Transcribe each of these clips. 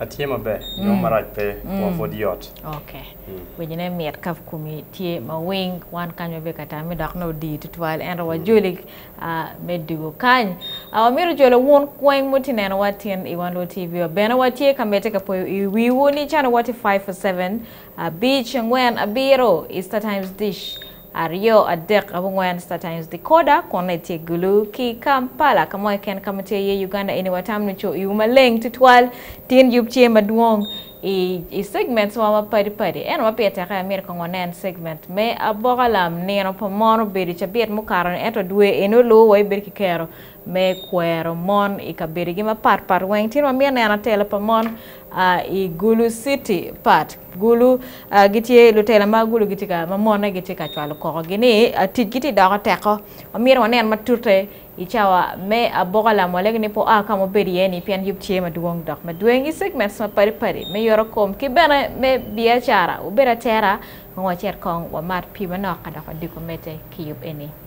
Atye maber, nongo marac pe, kwor pud yot. Ok, winyone mit ka komi tye ma winy, wan kany wabedo ka tame dok nongo odii tutwal ento wajoli me dwogo kany. Wamito jolo wun kweng ma wutye ka nenowa tin i Wan Lwor TV wa. Bene watye ka medde ka poyo i wiwu ni channel wa tye 547 abic angwen abiro, Easter Times Dish. Aryo, adek, abongwen Star Times Decoder kun eni tye gulu ki Kampala ka mo keken ka ma tye iye Uganda eni watam ni co iwu maleng tutwal tin yub tye madwong i i segments wa ma padi padi eno ma pire teke amito kong wanen segment me aboka lam nino pa mon obedo cabit mukato ni ento dwe eni oluwo wa ibedo ki kero me kwero mon i kabedigi ma pat pat weng tyen wamito neno telo pa mon a i gulu city part Gulu, a gitye, lutela ma gulu gitye ka, ma monne gitye ka cwalo koko gi ni a ticgi tye doko teko. Omyero wanen matute i cawa me aboka lamole gi ni po a ka ma obedo iye ni pien yub tye madwong dok madweng i segments ma padi padi me yoto kom ki bene me biacara. Wubed atera kong wacit kong wamat pi manok ka dok wadiko mete ki yub eni.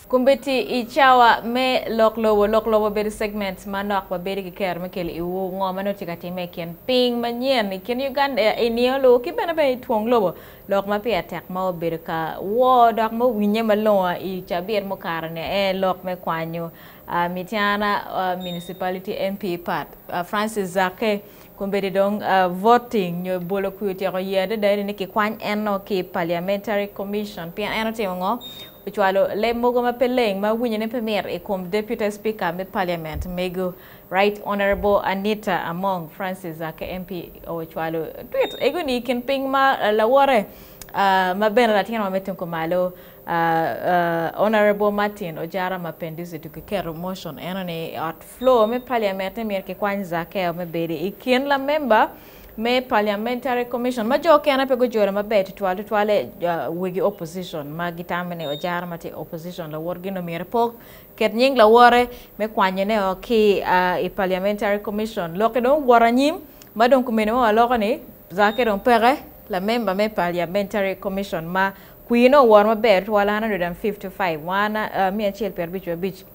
Kombiti i cawa me lok lobo. Lok lobo obedo segment manok ma bedo ki kero me kelo iwu ngo ma nongo tye ka timme i kin piny manyen i kin Uganda i nino lu ki bene bene i twong lobo lok ma peya tek ma obedo ka woo dok ma owinye malongo i cabit mukato ni aye lok me kwanyo Mityana Municipality MP Pat Francis Zaake kombedi dong voting nyo bolo kwi otyeko ye adada eni ni kikwany en nongo ki Parliamentary Commission pien en otimo ngo ocwalo leb mogo ma pe leng ma winyone pe mit i kom Deputy Speaker me Parliament mego Right Honourable Anita Among, Francis Zaake MP ocwalo twit ego ni i kin piny ma lawote ma bene latin wa me tung kumalo Honourable Martin Ojara Mapenduzi dong kiketo motion eno ni i ot floor me Parliament ni myero kikwany Zaakeo me bedo i kin lamemba me Parliamentary Commission ma jo okene pe gujolo maber tutwal tutwale wegi opposition ma gitamo ni ojara ma tye opposition lawotgi nongo myero epok ket nying lawote me kwanyone o ki i Parliamentary Commission lokke dong owoto anyim ma dong kumene ma waloko ni Zaake dong peke lamemba me Parliamentary Commission ma kwine owoto maber tutwal 155 wan miya acel pyerabic wiabic.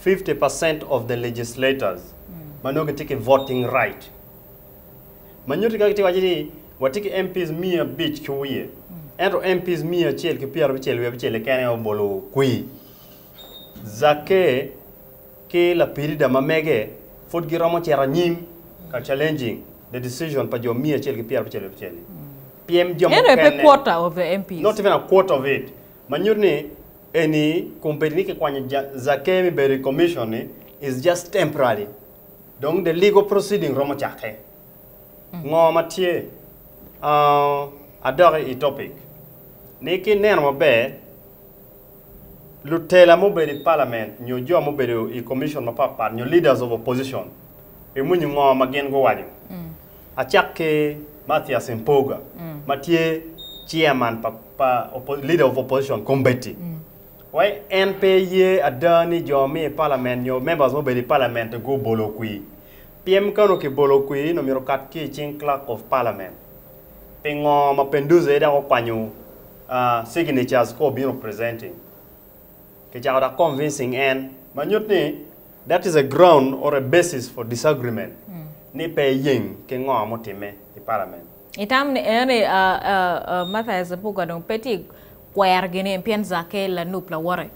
fifty percent of the legislators ma nongo gitye ki voting right ma nyuti ka gitye waco ni watye ki MPs miya abic ki wiye ento MPs miya acel ki pyera abicel wiye abicel keken aye obolo kwir Zakke ki lapirida ma mege pud giromo cito anyim ka challenging the decision pa jo miya acel ki pyera abicel wiye abicel ni pyem jo Eno aye pe mukene quarter of the MPs. not even a quarter of it ma nyuti ni Eni kun bedo ni kikwanyo Zakeyo me bedo i Commission-ni is just temporary. Dong the legal proceeding romo cakke. Ngo ma tye? Uh, adok i topic. Ni ki neno maber, lutela mubedo i parliament nyo jo mubedo i commission mapatpat nyo leaders of opposition, imwinyo ngo ma gin guwaco? Acak ki Mathias Mpuuga ma tye Chairman pa pa Leader of Opposition Combeti wa en pe ye ada ni jo me i Parliament nyo members mubedo i Parliament gu bolo kwi. Pyem ka onongo ki bolo kwi ni myero okat ki i cing Clerk of Parliament. Pingo ma Penduze aye dok okwanyo signatures ka obino presenting? Kicako da convincing en. Ma nyut ni that is a ground or a basis for disagreement ni pe eyeng ki ngo mutimme i parliament. Itam ni eno ni Mathias Mpuga dong pe tye kwero ginen pien Zaake lanup lawote.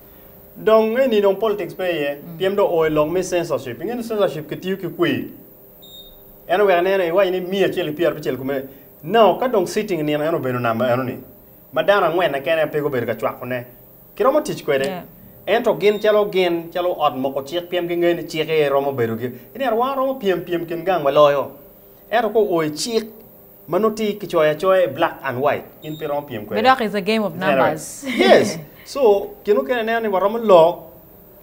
Dong eni dong politics pe iye. Pyem dong oo ilok me censorship. Inge ni censorship ki tiyo ki kwir. En oweko neno iwaco ni miya acel ki pyera abicel kome. Now ka dong sitting nino en obeno number eno ni. ma dano angwenne kene aye pe gubedo ka cwakone, kiromo tic kwede. Ento gin calo gin calo ot moko cik pien gingeyo ni cik aye romo bedo gi i nino wa romo pyem pyem kin gang waloyo. Ento ka oo i cik ma nongo tye ki coyo acoya i black and white in pe iromo pyem kwede. Dok is a game of numbers. Yes so gin mukene ineno ni waromo lok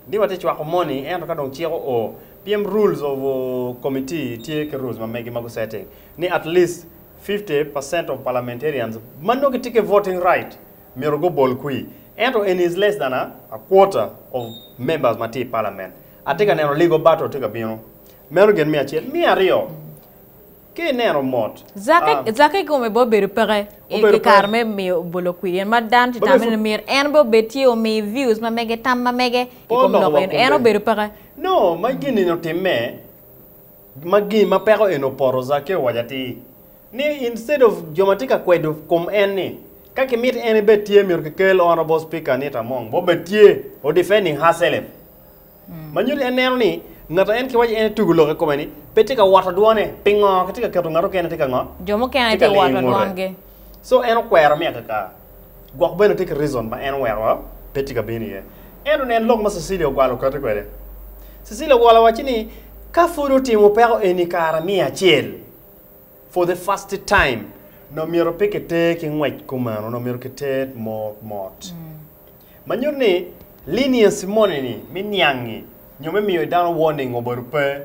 ni watye cwako moni ento ka dong cik oo pien rules of committee tye ki rules ma megi ma gu setting ni at least fifty percent of parliamentarians ma nongo gitye ki voting right myero gubol kwir, ento eni is less than a a quarter of members ma tye i parliament. Atye ka neno legal battle tye ka bino. Meno gin me acel. Me aryo, ka ineno mot, Zakke, ah, Zakke kome bene obedo peke i Obedo ki kare peke. me miyo bolo kwir in, ma dano tye Ba tame before- ni myero en bene obed tye omi views ma mege, tam ma mege i Pe kom oloko lok wa eno. En kombe. obedo peke. No, ma gin-ni otimme. Ma gin ma peko en opoto, Zakeo owaco atir ni instead of jo ma tye ka kwedo kom en ni ka ki miti en ebed tye myero ki kel honorable speaker Anita Among ma obed tye o defending her self ma nyuto en neno ni ngat ma en ki waco en etugo lok i kome ni pe tye ka woto dwone pingo ki tye ka keto ngat okene tye ka ngo? Jo mukene tye ka woto dwongi. So en okwero mi akaka, gwok bene tye ki reason ma en oweko wa pe tye ka bino iye. Ento nen lok ma Cecilia ogwalo kati kwede. Cecilia ogwalo wacci ni ka pud otimo peko eni kara miya acel for the first time nongo myero pe ki ter ki ngwec kumeno nongo myero ki ter mot mot. Ma nyuto ni leniency moni ni me niangi nyo me miyo dano warning obedo pe.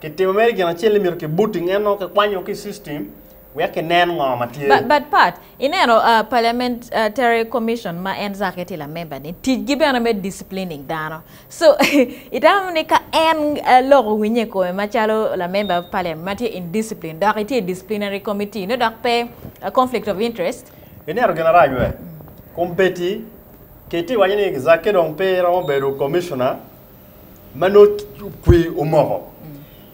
Kitimo mere gin acel ni myero ki booting en nongo kikwanyo ki system wek kinen ngo ma tye. But, but Pat, ineno uh, Parliamentary Commission ma en Zake tye lamember ni, ticgi bene me disciplining dano. So, itamo ni ka en uh, loko winye i kome macalo lamember of Parliament ma tye indiscipline dok itye i disciplinary committee no dok pe uh, conflict of interest? Ineno gin arac we? Kumbeti, kitye iwaco ni Zake dong pe romo bedo commissioner, ma nongo kwer omoko.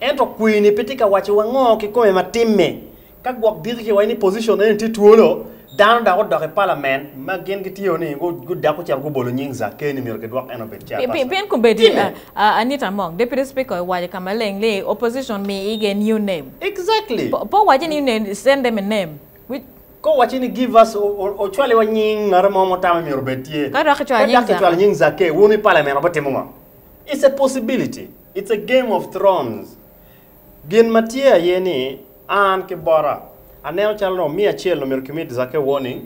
Ento kwer-ni pe tye ka wacciwa ngo kikome ma timme. Ka gwok diki kiwaco ni pocicion eni tye twolo, dano dok odok i palament ma gin gitye-o ni gudak gucito gubolo nying Zakeyo ni myero kidwok en obed chairperson. Pien kombeddi, Timme! a, Anita Among, Deputy Speaker owaco i ka maleng ni, Opposition mi ige new name. Exactly! Po, po wacce ni you name, send them a name. Wi. Ka owacci ni, Give us, ocwaliwa nying ngat mo ma wutamo ni myero obed tye. Ka dok kicwalo nying Zakeyo, wun i palament wubitimo ngo? It's a possibility. It's a game of thrones. Gin ma tye aye ni, an ki bota, aneno calo dong me acel dong myero kimit Zakeyo warning,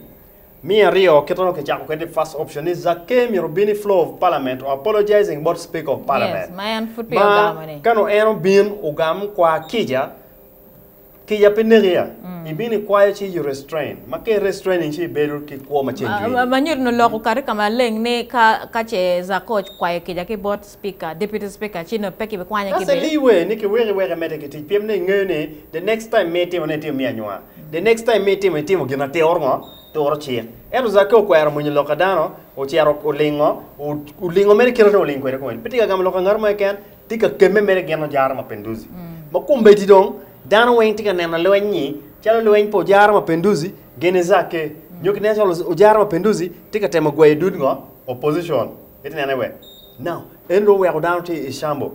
me aryo kit ma dong kicako kwede first option ni Zakeyo myero obin i floor of parliament or apologizing bot speaker of parliament. Yes, ma en pud peya ogamo ni. Ma kano en obin ogam kwa kica, Kica pe neki ya. Ibino ikwayo ci you restrain. Ma ka i restraining ci ibedo ki kwo ma ceng jwiri. Ma nyuto ni lok okato i ka maleng ni ka ka ce Zako okwayo kica ki bot Speaker, Deputy Speaker ci nongo pe kibikwanye ki That's a bene. lee way ni kiweko iweko emedde ki tic pien ni ingeyo ni the next time ma itimo ne itimo me anywa. The next time ma itimo itimo gin ma turo ngo? Turo cik. Ento Zako okwero mwinyo lok ka dano, ocito olingo, o, olingo mere kite dong oling kwede kong en. Pe tye ka gamo lok ka ngat mo keken, Tika kemme mere gin ojara Mapinduzi ma kombeddi dong dano weng tye ka neno lweny-nyi calo lweny pa ojara Mapinduzi gene zakke nyo ki neno calo ojara Mapinduzi tye ka temo gweyo dud ngo? Opposition iti nene we now en dong oweko dano tye i shambo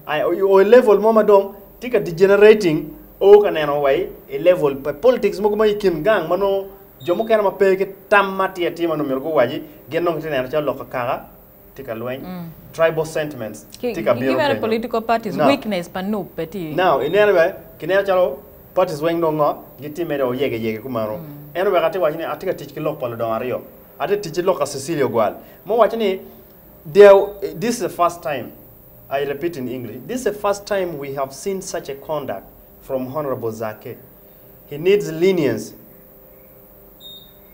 I o i level mo ma dong tye ka degenerating o ka neno wa i level pa politics mogo ma i kin gang ma nongo jo mukene ma pe ki tam ma tye atima nongo myero guwaci gin nongo giti neno calo lok akaka tye ka lweny, tribal sentiments Ki tye ka ki bino bene kenyo. political parties Now. weakness pa nup bene tye. Now, ineno bene, kineno calo parties weng dong ngo, gitye mere o yege yege kumeno. En oweko atye ka waco ni atye ka tic ki lok pa ludongo aryo. Atye ka tic ki lok pa Cecilia Ogwal, ma owaco ni, There, this is the first time, I repeat in English, this is the first time we have seen such a conduct from Honourable Zaake. He needs lenience.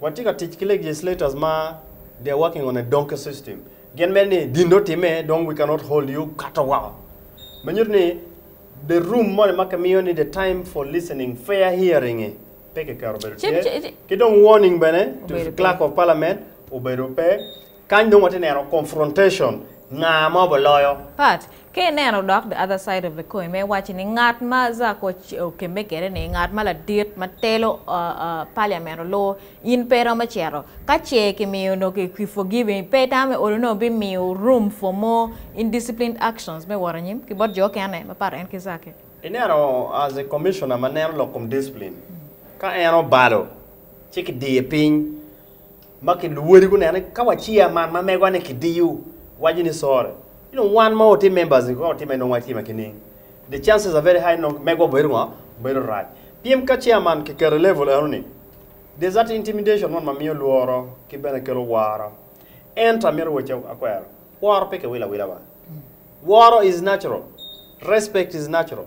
Watye ka tic ki legislators ma they're working on a donkey system. Gin mere ni gin dong otimme dong we cannot hold you kato woko. Me nyuto ni the room moni ma kimiyo ni the time for listening, fair hearing-ngi pe kiketo obedo Ci- tye. ci- ci- Ki dong warning bene to Obedo pe. clerk of parliament obedo pe. Kany dong watye neno confrontation, nga ma obo loyo. Part. Ka ineno dok the other side of the coin me wacci ni ngat ma Zak okemme kede ni ngat ma ladit ma telo parliament olur in pe iromo ceto ka ce ki miyo onongo ki ki forgive pe itamo me olo nongo bi miyo room for more indisciplined actions me wot anyim ki bot jo okene ma pato en ki Zaki. Ineno as a commissioner ma neno lok kom discipline ka en obalo ci ki diye piny. Ma ki luwodi guneno ni ka waciya man ma megowa ni kidiyo waco ni sorry you know wan ma watye members ni ka watime nongo watye ma kining the chances are very high ni nongo megowa obedo ngo obedo rac pien ka chair man ki keto i level eno ni there's that intimidation man ma miyo lworo ki bene kelo woro ento amito wacci akwero woro pe ki wilo awila banga woro is natural respect is natural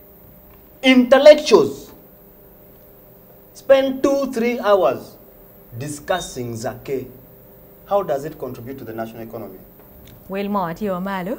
Intellectuals spend two, three hours discussing Zakkeh, how does it contribute to the national economy? Wel mo tye wa malo.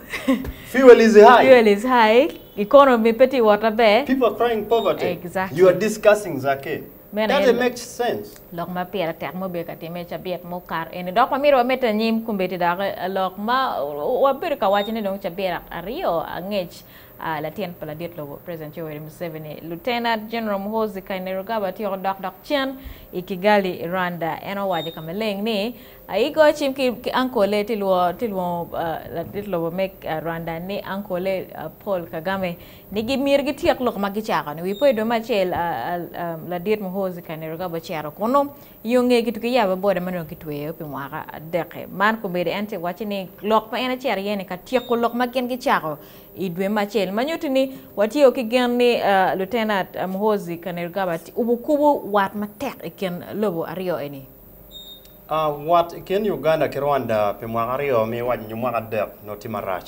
Fuel is high. Fuel is high. Economy pe tye wot maber. People are crying poverty. Exactly. You are discussing Zakkeh. Meno Does it make sense? Lok ma pire tek ma obedo ka timme i cabit mukato eni dok wamito wamedde anyim kombeddi dok lok ma wabedo ka wacone dong cabit aryo angec Latin pa ladit lobo President Yoweri Museveni, Lieutenant General Muhoozi Kainerugaba tyeko dok dok cen i Kigali, Rwanda. En owaco i ka maleng ni, Ayigo cim ki ankole ti lwongo ladit lobo me Rwanda ni ankole Paul Kagame ni gimyero gityek lok ma gicako-ni. Wi poyo dwe me acel, ladit Muhoozi Kainerugaba ocito kunnu i yo ngeye kituki yabbe boda ma nongo kitweyo pi mwaka adek-ki. Man komedo en ti wacci ni lok ma en ocito iye-ni ka tyeko lok ma gin gicako I dwe me acel ma nyuti ni watye o ki gen ni Lieutenant Muhoozi Kainerugaba obukubu wat matek i kin lobo aryo eni. Wat i kin Uganda ki Rwanda pi mwaka aryo mi iwac nyo mwaka adek nongo tye marac.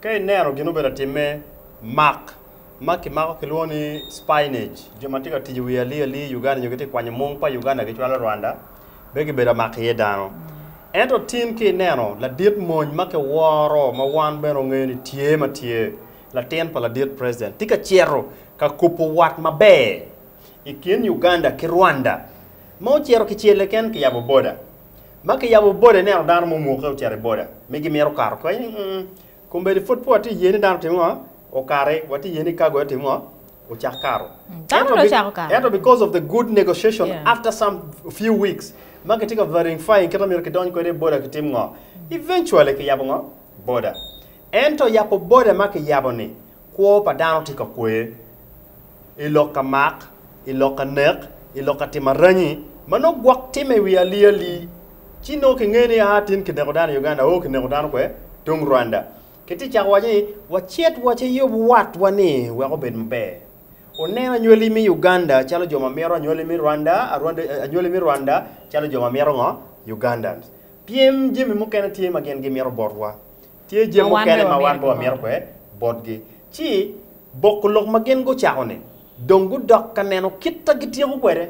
Ka ineno gin obedo atimme, mak ma kimako kilwongo ni spionage, jo ma tye ka tic i wi ali ali Uganda nyo gitye ka kwanyo mung pa Uganda gicwalo Rwanda, Be gibedo amak iye dano. Ento tin ki ineno ladit mony ma kiworo ma wan bene ongeyo ni tye ma tye, latin pa ladit president, tye ka cito ka kubo wat maber i kin Uganda ki Rwanda ma ocito ki celle ken ki yabo boda. Ma ki yabo boda ineno dano mo omwoke ocito i boda mi gimito kato kany ni, Kombeddi pud pe watye iye ni dano timo ngo? Okati, watye iye ni kago aye timo ngo? ocak kato. Dano dong ocako kato. Ento because of the good negotiation yeah. after some few weeks ma kitye ka verifying kita mito kidony kwede boda kitim ngo. Eventually kiyabo ngo? Boda. Ento yabo boda ma kiyabo ni kwo pa dano tye ka kwer i lok ka mak, i lok ka nek, i lok ka timo aranyi ma nongo gwok timme i wi ali ali. Ci nongo kingeyo ni ah tin kineko dano i Uganda, oh kineko dano kwe tung Rwanda. Ki tye cako waco ni wacit waciyub watwa ni wek obed maber. Wunen anywali mi Uganda calo jo ma mito anywali mi Rwanda, anywali mi Rwanda calo jo ma mito ngo? Ugandans. Pyem jami mukene tye ma gin gimito botwa. Tye jami mukene ma wan be wamito kwe botgi. Ci boko lok ma gin gucako-ni dong gudok ka neno kita gityeko kwede.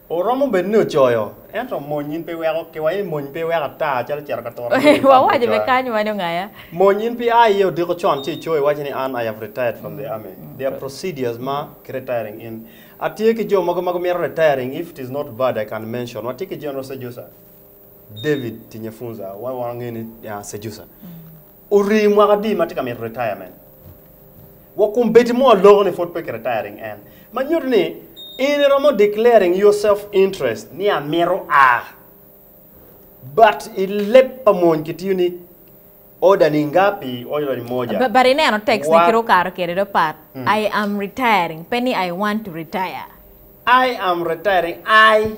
Oromo bed ni ocoyo, ento mony in pe iweko kiwa i mony pe iweko ata calo cito ka turo dul i tam me coya. Mony in pe a iye odiko con ci icoyo iwaco ni an I have retired from the army. There are procedures ma ki retiring in. Atye ki jo mogo ma gumito retiring if it is not bad I can mention. Watye ki General Sejusa, David Tinyefunza, wa wange ni Sejusa. Orii mwaka adi ma tye ka mito retirement? Wa kum bedi mo aloko ni pud pe ki retiring en. Ma nyuto ni in iromo declaring your self interest ni amito a. But i leb pa mony kitiyo ni order ni ngapi order ni moja. But ineno text ni kit okato kede do pat I am retiring pe ni I want to retire. I am retiring I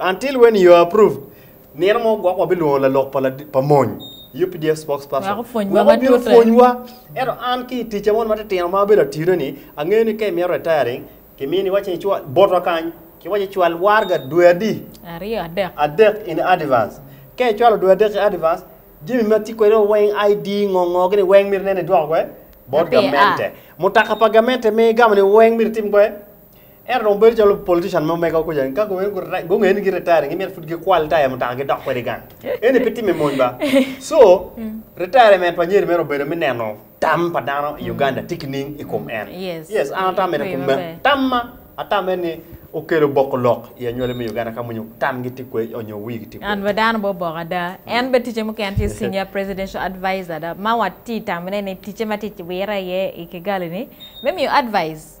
Until when you are approved, nino mo gwok wabilwongo lalok pa, ladi, pa mony, UPDF spokesperson, Wek opwonywa wek obino matute. pwonywa. Ento an ki i ticca moni matitino ma abedo atidone-ni, angeyo ni ka imito retiring, kimiyo ni iwacce icwal, botwa kany, kiwacce icwal warga dwe adi? Aryo, adek. adek in advance. Ka icwalo dwe adek i advance, jami ma tye kwede weng, ID, ngo ngo, gini weng myero inene idwoko kwede bot Ape, gamente. Mutoka pa gamente ma igamo ni weng myero itim kwede Ento dong bedo calo politician mo mega kuca ni ka gubino gure- gungeyo ni gi-retiring gimito pud gikwal taya mutoka gidok kwede gang eni pe timme mony ba so retirement pa nyeri mere obedo me neno tam pa dano i uganda tye ki ning i kom en Yes. yes an atam mene Rii kom maber. me tam ma atam mene ni okelo boko lok i anywali me uganda ka mony tamgi tye kwe onyo wigi tye kwe An bene dano bene oboko ada. En bene ticce mukene tye senior presidential advisor ada. Ma watye tamone ni ticce ma tye wire iye i Kigali ni me miyo advice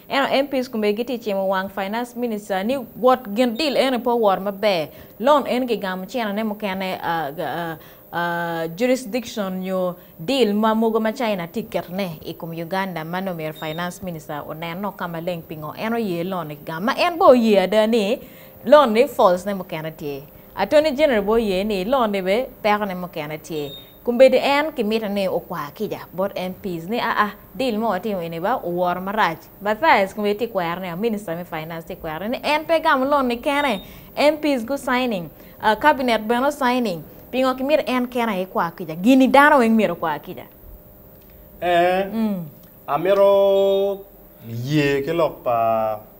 Ento MPs komgi gitye cimo wang Finance Minister ni wot gin deal eni pe owoto maber, loan eni kigamo China ne mukene jurisdiction nyo deal ma mogo ma China tye keto ne i kom Uganda ma nongo myero Finance Minister onen o ka maleng pingo en oye loan ni kigamo ma en bene oye ada ni loan ni faults ne mukene tye. Attorney General bene oye ni loan ni bene peko ne mukene tye. Kombeddi en kimito ni okwa kica bot MPs ni aa deal ma watimo eni ba oworo marac. Mathias kombeddi tye kwero ni a minister me finance tye kwero ni en pe gamo loan ni kene, MPs gu signing, a cabinet bene o signing, pingo kimito en kene aye kwa kica, gini dano weng myero okwa kica. Ee, amito ye ki lok pa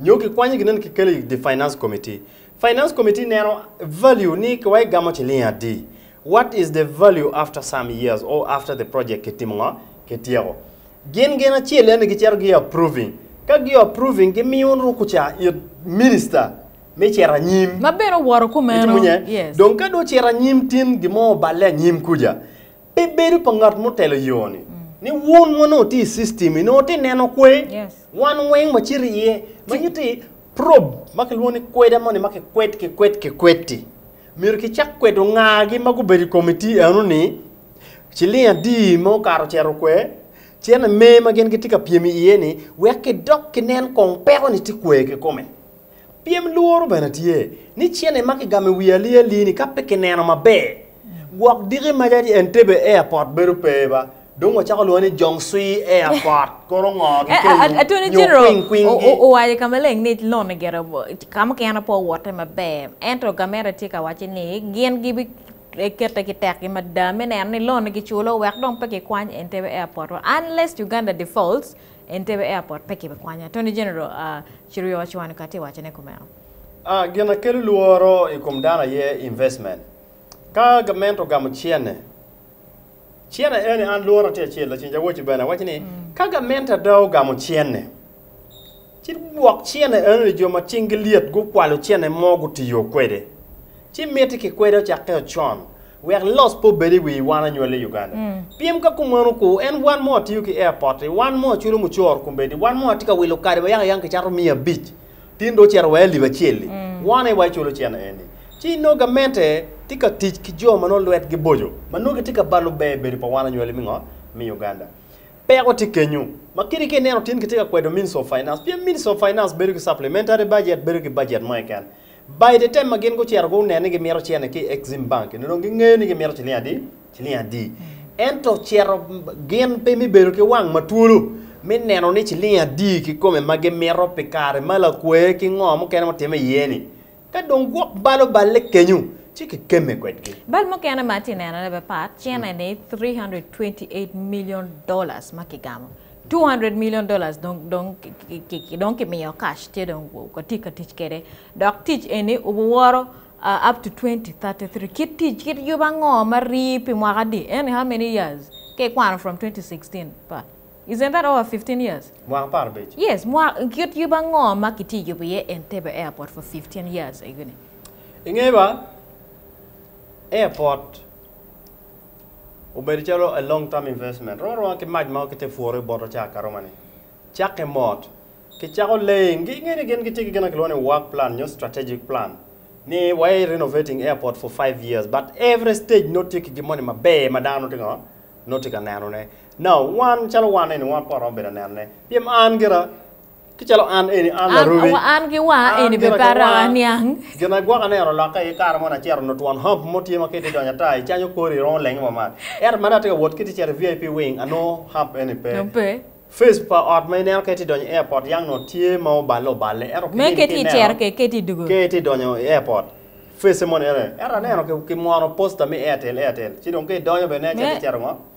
Nyo kikwanyo ginen kikelo i the finance committee. Finance committee neno value ni wa igamo ciling adi. What is the value after some years or after the project kitimo ngo? Kityeko. Gin gin acel yani giceto gi approving. Ka gi approving gimiyo ruku ca it minister me ceto anyim. Ma bene owoto kumeno. Itimo nye? Yes. Dong ka do ceto anyim tin gimo oballe anyim kuja. Pe bedo pa ngat mutelo yo-ni. Ni wun ma nongo tye i system-mi, nongo tye neno kwe wan weng ma cito iye. Ma nyutti, probe ma kilwongo ni kweda moni ma kikwed, kikwed, kikwed-ti, myero kicak kwedo ngagi ma gubedo i komitii eno-ni ciling adi ma okato ocito okwe, cene me ma gin gitye ka pyem iye-ni, wek kidok kinen kong peko-ni tye kwe kikome. Pyem lworo bene tye ni cene ma kigamo i wi Ali Ali-ni ka pe kineno maber, gwok diki maca ni Entebbe Airport bedo pe ba, dong wacako lwonge ni Jongsuii Airport, koro ngo gikello nyo kwing kwing-gi? Owaco i ka maleng ni lone gire ka mukene pe owotte maber, ento gamente tye ka wacce ni gin gibikete ki tekgi mada me neno ni lone giculo wek dong pe kikwany Entebbe Airport-wa unless Uganda defaults. Entebbe Airport pe kibe kwanya, Attorney General Cheruiyot Ocwani ka tye wacone kumeno. A. Gin a kelo lworo i kom dano aye investment. Ka gament ogamo cene, cene eni an lworo na tye acel, Lacen Jawoci bene waco ni ka gament ada ogamo cene, ci gwok cene enoni jo ma cinggi lyet gukwalo cene mo gutiyo kwede, ci miti ki kwede ocakke ocon. Wek loss pe obed i wi wan anywali i Uganda. Pien ka kumeno ku en wan mo atiyo ki airport-ti, wan mo aculo mucoro kombeddi, wan mo atye ka wilo kadi wa yaka yaka kicato miya abic, tin dong ocito wa i alip acel-li, wan aye wa iculo cene eni. Ci inongo gamente tye ka tic ki jo ma nongo lwetgi boco, ma nongo gitye ka balo ber bedo pa wan anywali me ngo? Me Uganda. Peko tye kenyu. Ma kiti ka ineno tin kitye ka kwedo Ministry of Finance, pien Ministry of Finance bedo ki supplementary budget, bedo ki budget mo keken. By the time ma gin gucito guneno ni gimito cene ki i Exim Bank, nyo dong gingeyo ni gimito ciling adi? Ciling adi. Ento cito gin pe me bedo ki wang matwolo me neno ni ciling adi kikome ma gimito pi kare ma lakwe ki ngo mukene mutime iye ni. Ka dong gwok bal oballe kenyo, ci kikemme kwedgi. Bal mukene ma atye nenone bene pat, cene ni three hundred twenty eight million dollars ma kigamo. 200 million dollars dong dong dong kimiyo cash tye dong watye ka tic kwede dok tic eni obuworo uh, up to 2033 kit tic kit yub ango ma rii pi mwaka adi eni how many years ka ikwano from 2016 pa isn't that over 15 years mwaka par abic yes mwa kit yub ango ma kitye yubo iye Entebbe airport for 15 years egini inge ba airport obedo calo a long term investment rwoma rwoma ki mac ma kite pworo bot ocak aroma ni cake mot ki cako laying gi ngeni gin gitye ki gin ma kilwongo ni work plan nyo strategic plan ni wa i renovating airport for 5 years but every stage no tye ki gin moni maber ma dano tye ngo no tye ka neno ne now wan calo wan eni wan pore romo bedo aneno ne pien an gira Ki calo an eni, an larubi. An, an ki wa An eni gire pe ki para wa. niang. Gin agwoka ni en olokke aye kare mo nacito onongo twon hump mo tye ma ka itye donyo ata i canyo kori romo lengi mamat. Ento mani atye ka wot kit icito i VIP wing anongo hump eni pe. No pe. Face pa ot ma ineno ka itye donyo i airport yang nongo tye ma oballe oballe ento Me kiyeni ka ka itye ineno icero ke ke ti dugo. ka itye donyo i airport face moni ene. Ento aneno ki, ki mwono poster me Airtel Airtel ci dong ka idonyo bene Me- cito icito ngo?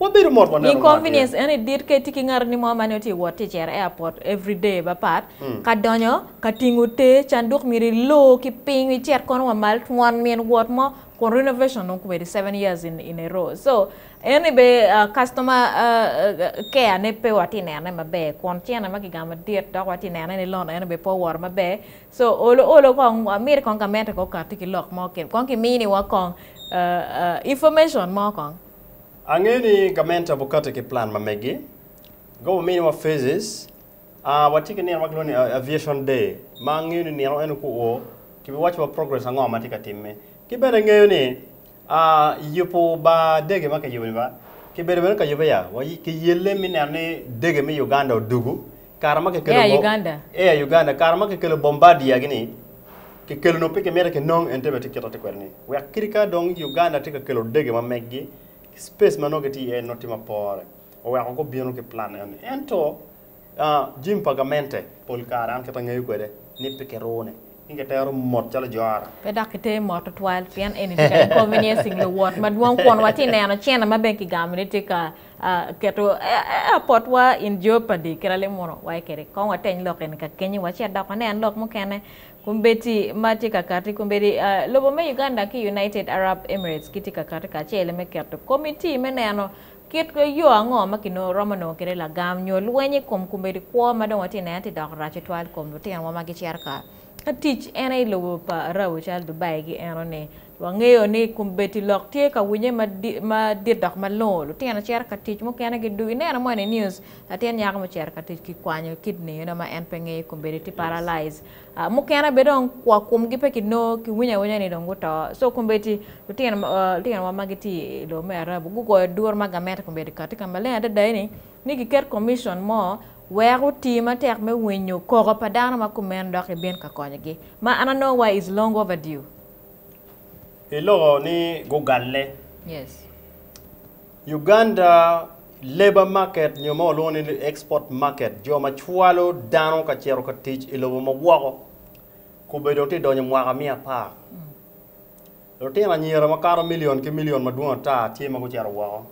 Wabedo mot waneno ma Inconvenience atir. en i dit ka itye ki ngatoni mo ma nongo tye wot tye cere airport every day ba pat ka donyo ka tingo te canduk myero i lor ki piny icit kono wa mal twon min wot mo kun renovation dong kwedi seven years in in a row so en ni be ah, customer ah, care ne pe watye nene maber kun cene ma kigamo madit dok watye nene ni loan en ni be pe owoto maber so olo olo kong ah, miti kong gamente kong okati ki lok mo ki kong kimini wa kong ah, ah, information mo kong. Angeyo ni gament aye obikati ki plan ma megi. Goba ominiwa phases. Ah, watye ki nino ma kilwongo ni a- Aviation Day, ma angeyo ni nino eno ku o, kibiwacciwa progress ango ma tye ka timme. Ki bene angeyo ni ah, yubo bar dege ma kiyubo-ni ba, kibedo bene ka yube ya, wa- kiyelle me neno ni dege me Uganda odugu, Air Uganda. Air Uganda kare ma kikelo Bombardier gi ni kikelo nongo pe kimito kinong ente bene tye kit ma tye kwede ni wek kadi ka dong Uganda tye ka kelo dege ma meggi ki space ma nongo gitye iye ni nongo tye ma pore oweko gubino ki plan eni ento Jim pa gamente pol kare an kit ma angeyo kwede ni pe kirune. Pi ka itero mot calo Johana. Pe dok iter mot tutwal pien eni tye ka inconveniencing luwot madwong kun watye ka neno cene ma bene kigamo ni tye ka keto airport-wa in jeopardy. Kit alim mono waye kwede. Kong wateny lok eni ka kenyu wa ci adok wanen lok mukene. Kombeddi ma tye ka kati, kombeddi lobo me Uganda ki United Arab Emirates gitye ka kati kacel me keto komitti me neno Kit yo ango ma kiromo nongo kwede lagam nyo lweny i kom kombeddi kwo ma dong watye ka neno tye ka dok rac tutwal i kom lutinowa ma gicito ka tic en aye i lobo pa Arabu calo Dubai ki enoni? Wangeyo ni kombeddi lok tye ka winye madit dok malongo. Lutino cito ka tic mukene gidwogo. Ineno moni i news latin nyako mucito ka tic kikwanyo kidney ma en pe ngeyo kombeddi tye paralyzed. Mukene bene dong kwok komgi pe ki nongo, ki winyo awinya ni dong guto. So kombeddi lutinowa ma gitye i lobo me Arabu gugoyo duru ma gamente kombeddi kati ka maleng adada eni ni giket komicon mo wek oti matek me winyo koko pa dano ma kumeno dok gibin ka konyogi. Ma an anongo wa is long over due. Iloko ni gugalle. Yes. Uganda Labour Market nyo ma walwongo ni Export Market, jo ma cwalo dano ka cito ka tic i lobo ma woko, kobbe dong tye donyo mwaka miya apar. Lutino anyira makato milion ki milion madwong ata tye ma gucito woko.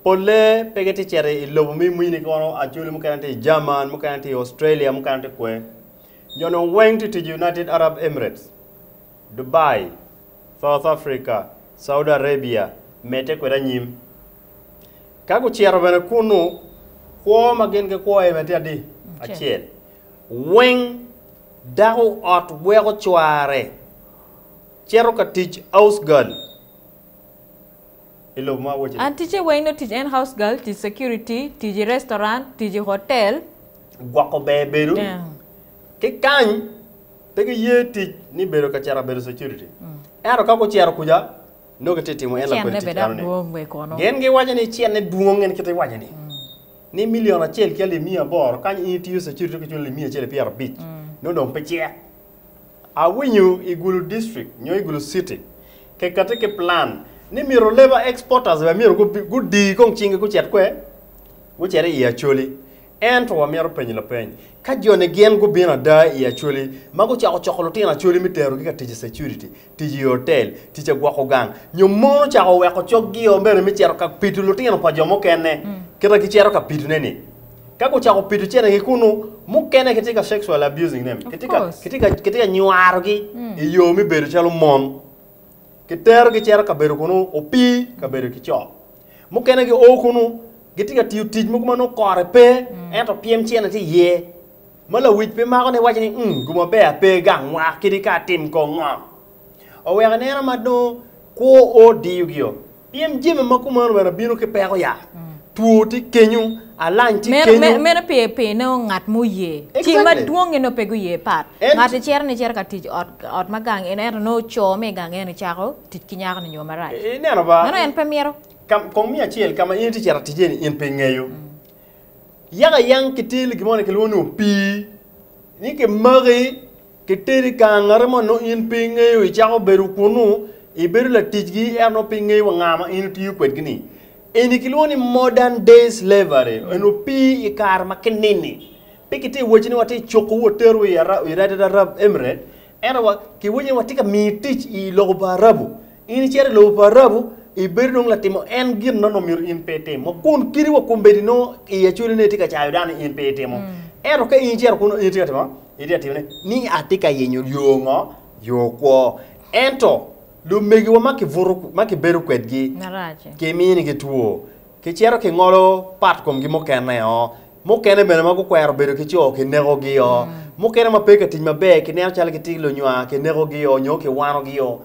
Polle pe gitye cito i lobo me mini kono, acholi mukene tye i German, mukene tye i Australia, mukene tye kwe. Jo-nu weng tye tic i United Arab Emirates. Dubai, South Africa, Saudi Arabia, medde kwede anyim. Ka gucito bene kunnu, kwo ma gin gikwo aye bene tye adi? Acel. Weng dako ot weko cware cito ka tic housegirl i lobo ma wacce-ni. An ticce weng nongo tic en housegirl, tic security, tic i restaurant, tic i hotel. Gwoko ber bedo ki kany. Pe giye tic ni bedo ka cito bedo security. Ento ka gucito kuca, nongo gitye ka timo en lakodi tic enoni. Gin giwaco ni cene dwong en kite iwaco ni, ni milion acel ki alip miya aboro kany in itiyo security dong kiculo alip miya acel ki pyera abic, nongo dong pe cek. Awinyo i Gulu District nyo i Gulu City kekati ki plan ni myero labour exporters bene myero gudi kong cingi gucit kwer? Gucit i Acholi. Ento wamito penyo lapeny, Ka joni gin gubino ada i Acholi ma gucako coko lutino Acholi me terogi ka tic i security, tic i otel, tic i gwoko gang, nyo mon ocako weko cogio bene me cito ka pido lutino pa jo mukene kit ma gicito ka pidone-ni, ka gucako pido cene-gi kunnu, mukene kitye ka sexually abusing them, kitye ka nywarogi i yo me bedo calo mon, kiterogi cito kabedo kunnu opii kabedo ki co. Mukene gio kunnu, gitye ka tiyo tic mogo ma nongo kore pe, ento pyem cene tye iye. Ma lawic pe mako ni iwaco ni, 'Um, guma ber pe gangwa, kadi ka atim kong ngo. Oweko ineno ma nongo kwo o diyogi-o. Pyem jami ma kumeno bene bino ki peko ya. Two tye kenyu, alany tye Meno, kenyu. me- meno pi, pi nongo ngat ma oye. Ci Exactly. madwong-ngi nongo pe guye pat. En- Ngat-ti cito nicito ka tic ot, ot ma gang eno, ento nongo co me gang eno cako tic ki nyako-ni nyo marac. Ineno ba? Meno en pe mito. Ka, kong mi acel, ka ma in itye cito atic iye-ni, in pe ingeyo. Yaka yang kitel gin moni ma kilwongo ni opii, ni kimaki, kiteri ka angati mo nongo in pe ingeyo, icako bedo kunnu, ibedo laticgi, ento nongo pe ingeyo wa nga ma in itiyo kwedgi-ni. Eni kilwongo ni modern day slavery, eni opii i kare ma kinini. Pe kitye ka wacci ni watye ka cukowu wateru i Ara, i United Arab Emirate, Ento wa, kiwinyo ni watye ka miyi tic i lobo pa Arabu. In icito i lobo pa Arabu, ibedo dong latimo en gin ma nongo myero in pe itim. Wa kun kidi wa kombeddi nongo i Acholi ni itye ka cayo dano ni in pe itimo. Ento ka in icito kunnu, in itye ka timo ngo? Itye ka timo ni, ni atye ka yenyo yo ngo? Yo kwo. Ento lumegiwa ma kibuto, ma kibedo kwedgi, Marac-ci. kiminigi two, kicito kingolo pat komgi mukene-o. Mukene bene ma gukwero bedo ki co kinekogi-o. Mukene ma pe ka tic maber kineno calo gitye lunywa, kinekogi-o nyo kiwanogi-o.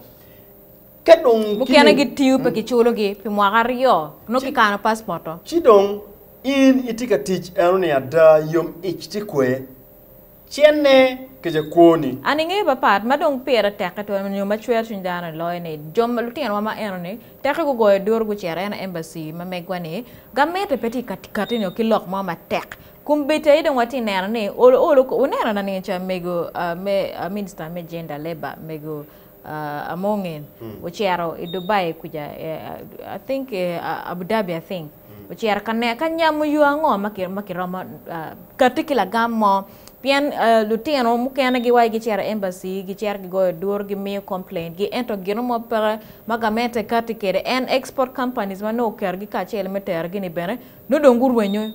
Ka dong kine. Mukene gitiyo pe kiculogi pi mwaka aryo, nongo kikano paspot-to. Ci dong in itye ka tic enoni ada, yom ic tye kwer. Cenne kica kwoni. An ingeyo pa part ma dong pire tekke twero nyo ma cwero cwiny dano i loyo ni jo ma lutinowa ma eno ni tekke gugoyo duru gucito eno embassy ma megwa ni gamente pe tye ka kati nyo ki lok mo matek kumbeddi aye dong watye neno ni olo olo ko wuneno na nining ca mego me minister me gender labour mego Amonge ocito i Dubai kuca I think Abudabi I think. Ociro ka ne ka nyamo yo ango ma kiromo kati ki lagam mo pien lutino mukene giwaco giciro i embassy, giciro gigoyo duru, gimiyo complaint gi ento gino mo peke ma gament aye kati kede en export companies ma nongo oketo gi kacel me tero gi ni bene nongo dong gurwenyo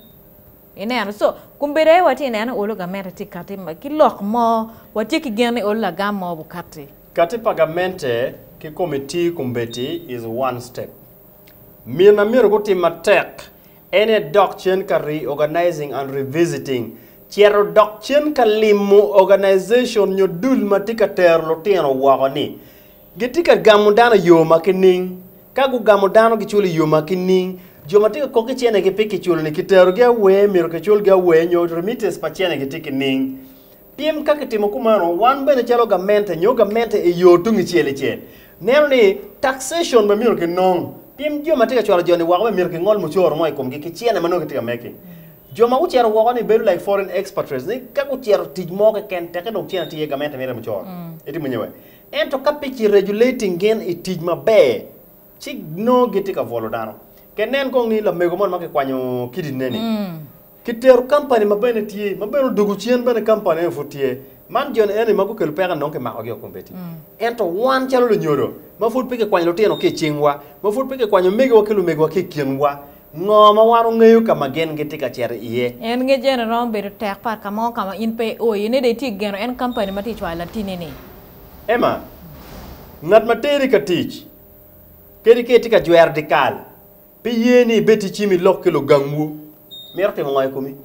ineno so kumbedo aye watye neno olo gamente tye kati ki lok mo watye ki gen ni olo lagam mo obukati. Kati pa gamente ki komiti kumbeti is one step. Mina myero gutim matek en aye dok cen ka reorganizing and revisiting, cito dok cen ka limo organization nyo dul ma tye ka tero lutino woko ni. Gitye ka gamo dano i yo ma ki ning. Ka gugamo dano giculo i yo ma ki ning. Jo ma tye ka kok ki cene gi pe kiculo ni kiterogi awer myero kiculgi awer nyo remittance pa cene gi tye ki ning. Pien ka kitimo kumano, wan bene calo gamente nyo gamente i yo tungicel icel, neno ni taxation bene myero kinong. Pien jo ma tye ka cwalo jo-ni woko bene myero kingol mucoro mo i komgi ki cene ma nongo gitye ka meki. Jo ma gucito woko-ni bedo like foreign expatriates ni ka gucito tic mo keken teke dong cene tye iye gamente miti mucoro. Itimo nyo wek. Ento ka pe kiregulating gin i tic maber, ci nongo gitye ka bwolo dano. Keken nen kong ni lamego moni ma kikwanyo kidine-ni, Ki tero kampani ma bene tye, ma bene odugu cen bene kampani eni pud tye. Man joni eni ma gukelo peko enong kimakogi o kombeddi. Ento wan calo lunyodo, ma pud pe kikwanyo lutino ki i cingwa, ma pud pe kikwanyo omegiwa ki lumegiwa ki i kinwa, ngo ma wan ongeyo ka ma gin gitye ka cito iye? En nge jene romo bedo tek pat ka mo ka ma in pe io iye ne dong itye geno en kampani ma tye cwayo latini ni. Emma, ngat ma teri ka tic, kadi ka itye ka jwero dikal, Pi ye ni ibed ticim i lok ki lugangwu, mito timo nga i komi?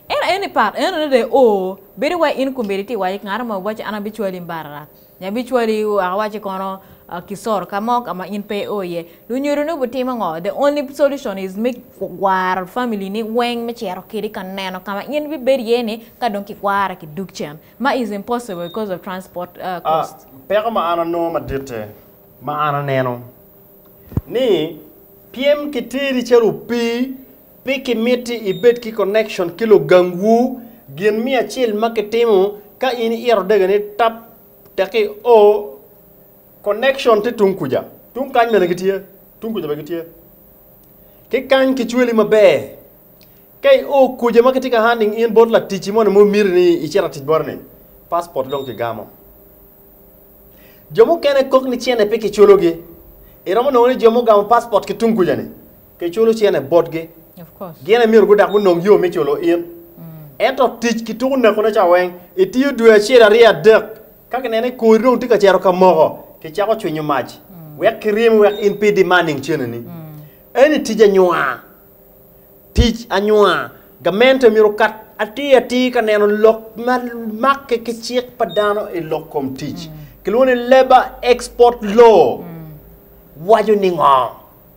Ento aye ni pat enoni re o, bedo wai in kombeddi ti iwaco ki ngat mo waci an abicwali i mbarara, nyo abicwali waka waci kono Kisoro ka mo ka ma in pe i o iye. Lunyodo ni obitimo ngo? The only solution is me kwaro family ni weng me cito kedi ka neno ka ma in bibed iye ni ka dong ki kwara ki dug cen, ma is impossible because of transport cost. Peko ma an anongo maditte ma an aneno. ni pyem ki teri calo opii pi kimiti ibed ki connection ki lugangwu gin miyo acel ma kitimo ka in iyito odega ni tap tek i o connection ti tung kuja tung kany bene gitye tung kuja bene gitye ki kany kicweli maber ka i o kuja ma kitye ka handing in bot latic moni mo miti ni icit atic botini passport dong kigamo Jo mukene kok ni cene pe kiculogi. Iromo nongo ni jo mugamo paspot ki tung kuja-ni kiculo cene botgi. Gin aye myero gudak gunong yo me culo in. Ento tic ki tuko nekone ca weng, itiyo dwe acel, aryo, adek, ka kineno ni kori dong tye ka cito ka moko, kicako cwinyo mac wek kiryemi wek in pe idimar nining ceneni. Eni tic anywar. Tic Anywar, Gamente myero okat atir atir ka neno lok ma makke ki cik pa dano i lok kom tic, kilwongo ni Labour Export Law, waco ni ngo?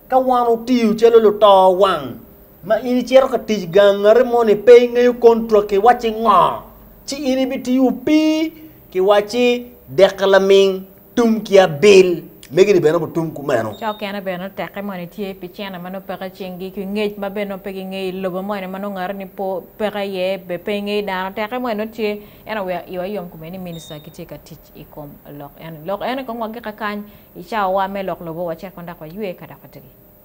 Ka wan otiyo calo luto wang ma in icito ka tic gangati moni pe ingeyo kontrak ki wacci ngo? Ci in ibitiyo opii ki wacci deke laming. Tum ki abil. Megi-ni bene obutum kumeno. Cok kene bene nongo tekke moni tye pi cene ma nongo peke i cingi, ki ngec ma bene nongo pe gingeyo i lobo moni ma nongo ngati-ni pe peke iye, be pe ingeyo dano. Tekke moni nongo tye, ento wek iwa yom kome ni minista gitye ka tic i kom lok eni. Lok eni kong wagik akany i cawawa me lok lobo wacek kong dok waywe ka dok wategi.